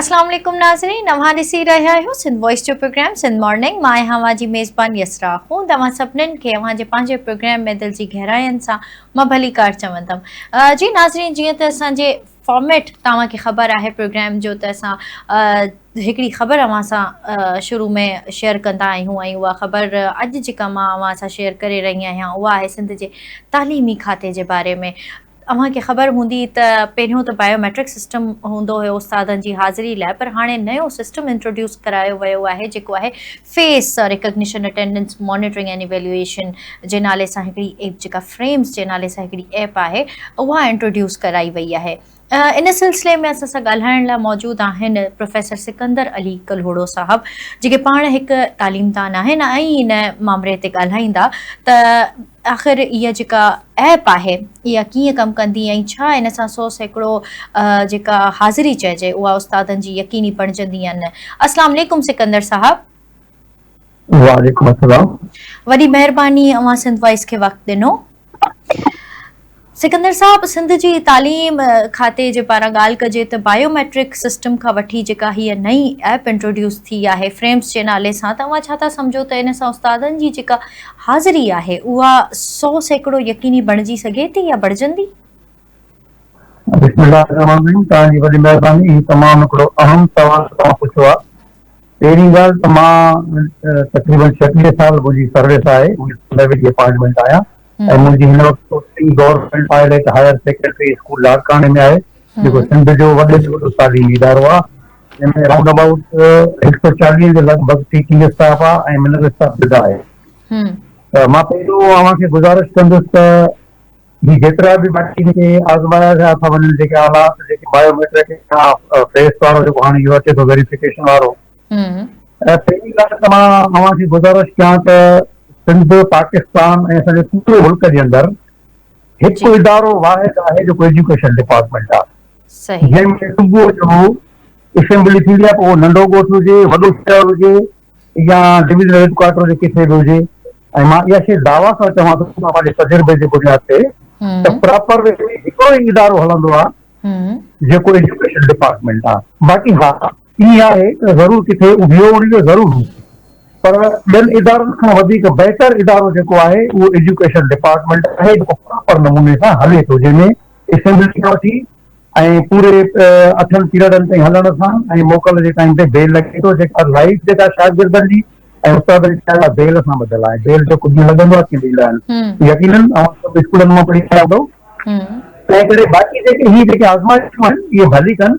اسلام عليڪم ناظرين اوهان ڏسي رهيا آهيو سنڌ وائس جو پروگرام سنڌ مارننگ مان آهيان اوهان جي ميزبان يسرا هون توهان سڀنن کي اوهان جي پنهنجي پروگرام ۾ دل جي گهراين سان مان ڀليڪار چوندم جي ناظرين جيئن ته اسان جي فارميٽ توهان کي خبر آهي پروگرام جو ته اسان هڪڙي خبر اوهان سان شروع ۾ شيئر ڪندا آهيون ۽ اها خبر اڄ جيڪا مان اوهان سان شيئر ڪري رهي آهيان اها آهي سنڌ جي تعليمي کاتي جي باري ۾ اوهان کي خبر هوندي ته پهريون ته بايو ميٽرڪ سسٽم هوندو هيو استادن جي حاضري لاء پر هاڻي نيو سسٽم انٽروڊيوس ڪرايو ويو آهي جيڪو آهي face recognition attendance monitoring and evaluation جي نالي سان هڪڙي ايپ جيڪا فريمز جي نالي سان هڪڙي ايپ آهي اها انٽروڊيوس ڪرائي وئي آهي ان سلسلي ۾ اسان سان ڳالهائڻ لاء موجود آهن پروفيسر سڪندر علي ڪلهوڙو صاحب جيڪي پاڻ هڪ تعليمدان آهن ۽ ان مامري تي ڳالهائيندا ته آخر اها جيڪا ايپ آهي اها ڪيئن ڪم ڪندي ۽ ڇا ان سان سو سيڪڙو جيڪا حاضري چئجي اها استادن جي يقيني بڻجندي يا نه اسلام عليڪم سڪندر صاحب وعليڪم السلام وڏي مهرباني اوهان سنڌ وائس کي وقت ڏنو سڪندر صاحب سنڌ جي تعليم کاتي جي پاران ڳالهه ڪجي ته بايو ميٽرڪ سسٽم کان وٺي جيڪا هيء نئين ايپ انٽروڊيوس ٿي آهي فريمز جي نالي سان ته اوهان ڇا ٿا سمجهو ته ان سان استادن جي جيڪا حاضري آهي اها سو سيڪڙو يقيني بڻجي سگهي ٿي يا بڻجندي؟ بسم الله الرحمن الرحيم توهان جي وڏي مهرباني هي تمام هڪڙو اهم سوال توهان پڇيو آهي پهرين ڳالهه ته مان تقريبن ڇٽيهه سال منهنجي سروس آهي ڊپارٽمينٽ آهيان ۽ منهنجي هن وقت posting government pilot higher secondary school لاڙڪاڻي ۾ آهي، جيڪو سنڌ جو وڏي ۾ وڏو تعليمي ادارو آهي، جنهن ۾ رائونڊ ابائوٽ هڪ سؤ چاليهه جي لڳ ڀڳ ٽيچنگ اسٽاف آهي ۽ منل اسٽاف جدا آهي. ته مان پهريون اوهان کي گذارش ڪندس ته هي جيترا به باقي جيڪي آزمايا ويا ٿا وڃن جيڪي آلات جيڪي بايو ميٽرڪ اسٽاف فيس وارو جيڪو هاڻي اهو اچي ٿو ويريفڪيشن وارو پهرين ڳالهه ته مان اوهان کي گذارش ڪيان ته سنڌ، پاڪستان ۽ اسان جي پوري ملڪ جي اندر هڪ ادارو واحد آهي جيڪو ايجوڪيشن ڊپارٽمينٽ آهي. جنهن ۾ صبح جو اسيمبلي ٿيندي آهي پوء ننڍو ڳوٺ هجي، وڏو شهر هجي يا ڊويزنل هيڊ ڪوارٽر هجي ڪٿي به هجي ۽ مان اها شيء دعويٰ سان چوان ٿو ته پنهنجي تجربي جي بنياد تي ته پراپر وي ۾ هڪڙو ئي ادارو هلندو آهي جيڪو ايجوڪيشن ڊپارٽمينٽ آهي. باقي ها ائين آهي ته ضرور ڪٿي اڀيو وڻي ته ضرور هوندو پر ٻين ادارن کان وڌيڪ بهتر ادارو جيڪو آهي اهو ايجوڪيشن ڊپارٽمينٽ آهي جيڪو پراپر نموني سان هلي ٿو جنهن ۾ اسيمبلي کان وٺي ۽ پوري اٺن پيرڊن تائين هلڻ سان ۽ موڪل جي ٽائيم تي بيل لڳي ٿو جيڪا لائيف جيڪا شاگردن جي ۽ استادن جي لاء بيل سان ٻڌل آهي بيل جو ڪجهه لڳندو آهي ڪي ڏيندا آهن يقينن اوهان سڀ اسڪولن مان پڙهي آيا هوندؤ تنهن ڪري باقي جيڪي هي جيڪي آزمائشون آهن اهي ڀلي ڪن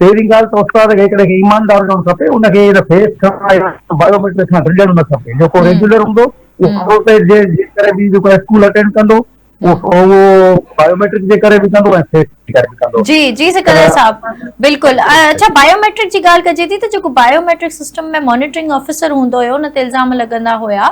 پهرين ڳالهه ته استاد کي هڪڙي کي ايماندار هجڻ کپي، ان کي هن فيس ڪرڻ لاء بايوميٽرڪ سان گڏجڻ نه کپي، جيڪو ريگيولر هوندو اهو جي ڪري به جيڪو اسڪول اٽينڊ ڪندو اهو بايوميٽرڪ جي ڪري به ڪندو ۽ فيس جي ڪري به ڪندو. جي جي سڪندر صاحب بلڪل اڇا بايوميٽرڪ جي ڳالهه ڪجي ٿي ته جيڪو بايوميٽرڪ سسٽم ۾ مانيٽرنگ آفيسر هوندو هيو ان تي الزام لڳندا هيا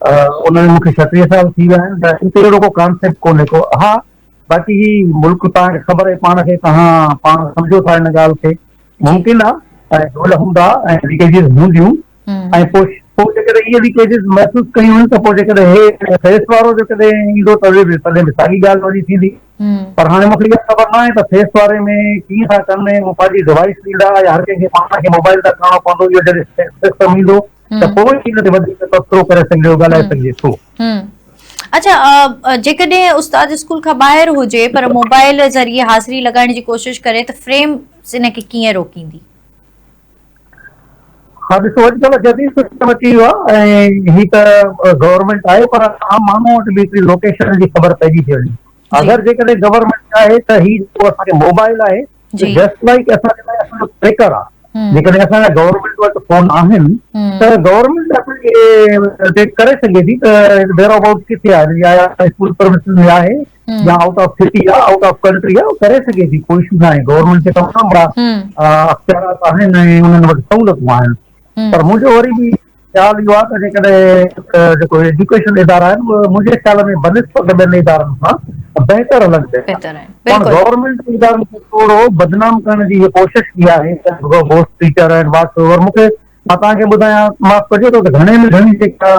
ان ۾ مون کي ڇهه ٽيهه سال ٿي ويا آهن ته ان تي اهڙو ڪو ڪانسيپٽ ڪونهي ڪو ها باقي هي ملڪ توهان کي خبر آهي پاڻ کي توهان پاڻ سمجهو ٿا ان ڳالهه کي ممڪن آهي ۽ ڍول هوندا ۽ ليڪيجز هونديون ۽ پوء پوء جيڪڏهن اهي ليڪيجز محسوس ڪيون ته پوء جيڪڏهن هي فيس وارو جيڪڏهن ايندو ته به تڏهن به ساڳي ڳالهه واري ٿيندي پر هاڻي مون کي اها خبر نه آهي ته فيس واري ۾ ڪيئن ٿا ڪن ۽ پنهنجي ڊوائس ڏيندا يا هر ڪنهن کي پاڻ کي موبائل تان ڪرڻو پوندو اهو جڏهن سسٽم ايندو ته پوء ئي ان تي وڌيڪ تبصرو ڪري سگهجي ٿو، ڳالهائي سگهجي ٿو. اڇا جيڪڏهن استاد اسڪول کان ٻاهر هجي پر موبائل ذريعي حاضري لڳائڻ جي ڪوشش ڪري ته فريم ان کي ڪيئن روڪيندي؟ ها ڏسو اڄڪلهه جديد سسٽم اچي ويو آهي ۽ هي ته گورنمينٽ آهي پر عام ماڻهو وٽ به هڪڙي لوڪيشن جي خبر پئجي ٿي وڃي اگر جيڪڏهن گورنمينٽ چاهي ته هي جيڪو اسان کي موبائل آهي جي جسٽ لائيڪ اسان جي لاء اسان جو ٽريڪر آ جيڪڏهن اسان جا گورنمينٽ وٽ فون آهن ته گورنمينٽ اسان کي ڊيٽيڪٽ ڪري سگهي ٿي ته ويئر ابائوٽ ڪٿي آهي يا اسڪول پرمسز ۾ آهي يا آئوٽ آف سٽي آ آئوٽ آف ڪنٽري آ ڪري سگهي ٿي ڪو اشو ناهي گورنمينٽ کي تمام وڏا اختيارات آهن ۽ انهن وٽ سهولتون آهن پر منهنجو وري به خيال اهو آهي ته جيڪڏهن جيڪو ايجوڪيشن ادارا آهن اهي منهنجي خيال ۾ بنسبت ٻين ادارن کان بهتر هلن پيا ٿا پاڻ گورنمينٽ ادارن کي ٿورو بدنام ڪرڻ جي اها ڪوشش ڪئي آهي گوسٽ ٽيچر آهن واٽس اوور مون کي مان توهان کي ٻڌايان معاف ڪجو ته گهڻي ۾ گهڻي جيڪا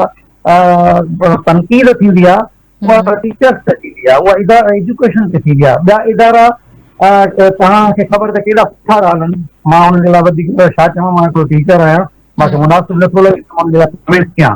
تنقيد ٿيندي آهي اها ٽيچرس تي ٿيندي آهي، اها ادارا ايجوڪيشن تي ٿيندي آهي، ٻيا ادارا توهان کي خبر ته ڪيڏا سٺا ٿا هلن، مان انهن جي لاء وڌيڪ ڇا چوان، مان هڪڙو ٽيچر آهيان، مان کي مناسب نٿو لڳي ته مان انهن جي لاء ڪمينٽ ڪيان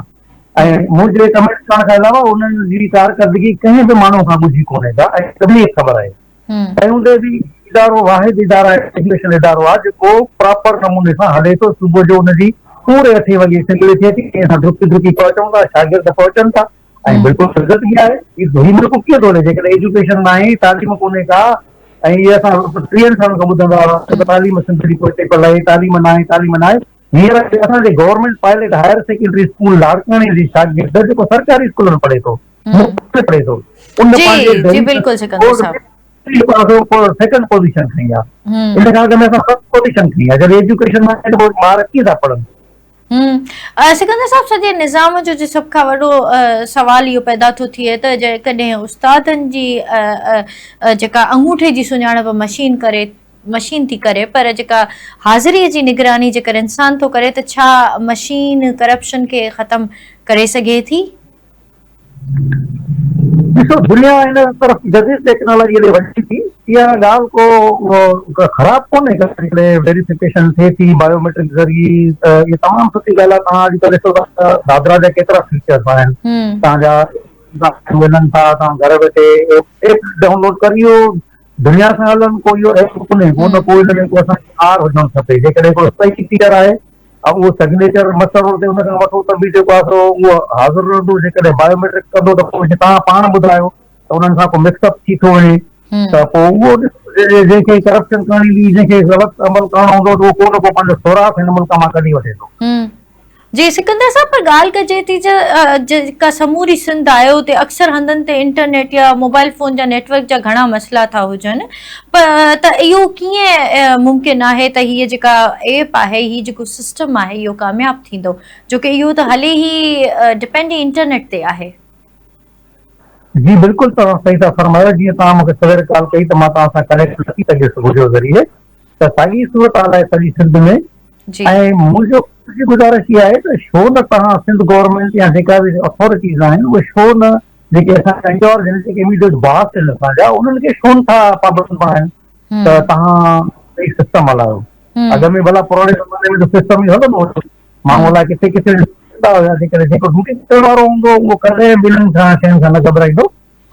۽ منهنجي ڪمينٽ ڪرڻ کان علاوه انهن جي ڪارڪردگي ڪنهن به ماڻهو کان ڳجهي ڪونهي ڪا ۽ سڀني کي خبر آهي. تنهن هوندي به هي ادارو واحد ادارا ايجوڪيشن ادارو آهي جيڪو پراپر نموني سان هلي ٿو، صبح جو ان جي پوري اٺين وڳي اسيمبلي ٿئي ٿي، ٽئين سان ڊڪي ڊڪي پهچون ٿا، شاگرد پهچن ٿا، ۽ بلڪل سگهه ٿي آهي هي ملڪ ڪيئن ٿو هلي جيڪڏهن ايجوڪيشن نه آهي تعليم ڪونهي ڪا ۽ هي اسان ٽيهن سالن کان ٻڌندا هئاسين ته تعليم سنڌ جي پوئتي پل آهي تعليم نه آهي تعليم نه آهي هينئر اسان جي government pilot higher secondary school لاڙڪاڻي جي شاگرد جيڪو سرڪاري اسڪول ۾ پڙهي ٿو مفت ۾ پڙهي ٿو ان پنهنجي جي بلڪل سڪندر صاحب سيڪنڊ پوزيشن کڻي آهي ان کان اڳ ۾ اسان فرسٽ پوزيشن کڻي آهي جڏهن ايجوڪيشن ۾ ٻار ڪيئن ٿا پڙهن سڪندر صاحب سڄي نظام جو جي سڀ کان وڏو سوال اهو پيدا ٿو ٿئي ته جيڪڏهن استادن جي جيڪا انگوٺي جي سڃاڻپ مشين ڪري مشين ٿي ڪري پر جيڪا حاضري جي نگراني جيڪر انسان ٿو ڪري ته ڇا مشين ڪرپشن کي ختم ڪري سگهي ٿي؟ ڏسو دنيا ان طرف جديد ٽيڪنالاجي ڏي وڃي ٿي اها ڳالهه ڪو خراب ڪونهي جيڪڏهن ويريفڪيشن ٿئي ٿي بايوميٽرڪ ذريعي ته اها تمام سٺي ڳالهه آهي توهان اڄڪلهه ڏسو ٿا ته دادرا جا ڪيترا فيچرس آهن توهان جا ملن ٿا توهان گهر ويٺي ايپ ڊائونلوڊ ڪري دنيا سان هلن ڪو اهو ايپ ڪونهي ڪو نه ڪو هن ۾ ڪو اسان کي آر هجڻ کپي جيڪڏهن ڪو اسپيسي فيچر آهي اهو سگنيچر مسرور تي ان کان وٺو ته به جيڪو آسرو اهو حاضر رهندو جيڪڏهن بايو ميٽرڪ ڪندو ته پوء توهان پاڻ ٻڌايو ته انهن سان ڪو مڪس اپ ٿي ٿو وڃي ته پوء اهو جنهن کي ڪرپشن ڪرڻي هوندي جنهن کي غلط عمل ڪرڻو هوندو ته اهو ڪو نه ڪو پنهنجو سوراخ هن ملڪ مان ڪڍي وٺي ٿو. جي سڪندر صاحب پر ڳالهه ڪجي ٿي ته جيڪا سموري سنڌ آهي اتي اڪثر هنڌن تي انٽرنيٽ يا موبائل فون جا نيٽ ورڪ جا گهڻا مسئلا ٿا هجن پر ته اهو ڪيئن ممڪن آهي ته هيء جيڪا ايپ آهي، هي جيڪو سسٽم آهي اهو ڪامياب ٿيندو، جو ڪي اهو ته هلي ئي ڊپينڊ ئي انٽرنيٽ تي آهي. جي بلڪل توهان صحيح ٿا فرمايو، جيئن توهان مونکي سوير ڪال ڪئي ته مان توهان سان ڪنيڪٽ نه ٿي سگهيس وڊيو ذريعي، ته ساڳي صورتحال آهي سڄي سنڌ ۾ ۽ منهنجو گذارش اها آهي ته شو نه توهان سنڌ گورنمينٽ يا جيڪا به اٿارٽيز آهن اهي شو نه جيڪي اسان جا ڪنهن اور جينيٽڪ ايميڊيٽس باس آهن اسان جا انهن کي ڇو نٿا پابند بڻايون ته توهان هي سسٽم هلايو اڳ ۾ ڀلا پراڻي زماني ۾ سسٽم ئي هلندو هو ماڻهو الاء ڪٿي ڪٿي ڏسندا هياسي ڪري جيڪو ڊيوٽي ڪرڻ وارو هوندو اهو ڪڏهن به انهن کان شين کان نه گهٻرائيندو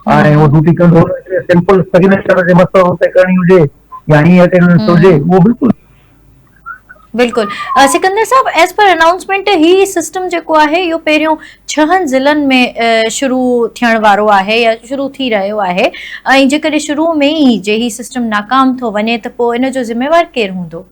۽ اهو ڊيوٽي ڪندو سمپل سگنيچر جي مسئلو تي ڪرڻي هجي يا ائين اٽينڊنس هجي اهو بلڪل بلڪل سڪندر صاحب ايز پر انائونسمينٽ هي سسٽم جيڪو آهي اهو پهريون ڇهن ضلعن ۾ شروع ٿيڻ وارو آهي يا شروع ٿي رهيو آهي ۽ جيڪڏهن شروع ۾ ئي جي هي سسٽم ناڪام ٿو وڃي ته پوء ان جو ذميوار ڪير هوندو؟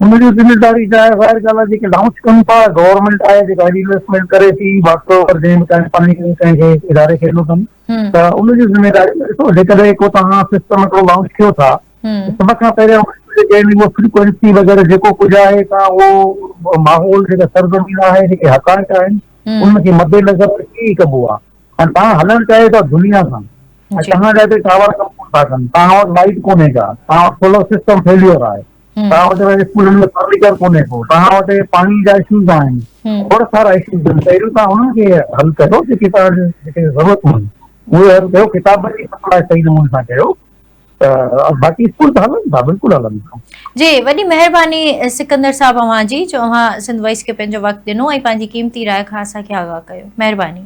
ان جو ذميواري جا ظاهر ڳالهه آهي جيڪي لانچ ڪن ٿا گورنمينٽ آهي جيڪا هيڏي انويسٽمينٽ ڪري ٿي باقي اگر جنهن به ڪنهن فنڊ ڪنهن ڪنهن کي اداري کي ڏنو اٿن ته ان جي ذميواري ڏسو جيڪڏهن ڪو توهان سسٽم هڪڙو لانچ ڪيو ٿا هن سڀ کان پهريان اهو فريڪوينسي وغيره جيڪو ڪجهه آهي سا اهو ماحول جيڪا سرزمين آهي جيڪي حقائق آهن ان کي مد نظر رکي ئي ڪبو آهي ۽ تان هلڻ چاهيو ٿا دنيا سان ۽ توهان جا هتي ٽاور ڪم ڪون ٿا ڪن توهان وٽ لائيٽ ڪونهي ڪا توهان وٽ سولر سسٽم فيليور آهي توهان وٽ اسڪولن ۾ فرنيچر ڪونهي ڪو توهان وٽ پاڻي جا اشوز آهن ٿورا سارا اشوز آهن پهريون توهان انهن کي حل ڪريو جيڪي توهان جي ضرورتون آهن اهي حل ڪيو ڪتابن جي سپلاء صحيح نموني سان ڪيو باقي اسڪول ته هلن ٿا بلڪل هلن ٿا. جي وڏي مهرباني سڪندر صاحب اوهان جي جو اوهان سنڌ وائس کي پنهنجو وقت ڏنو ۽ پنهنجي قيمتي راء کان اسان کي آگاهه ڪيو مهرباني.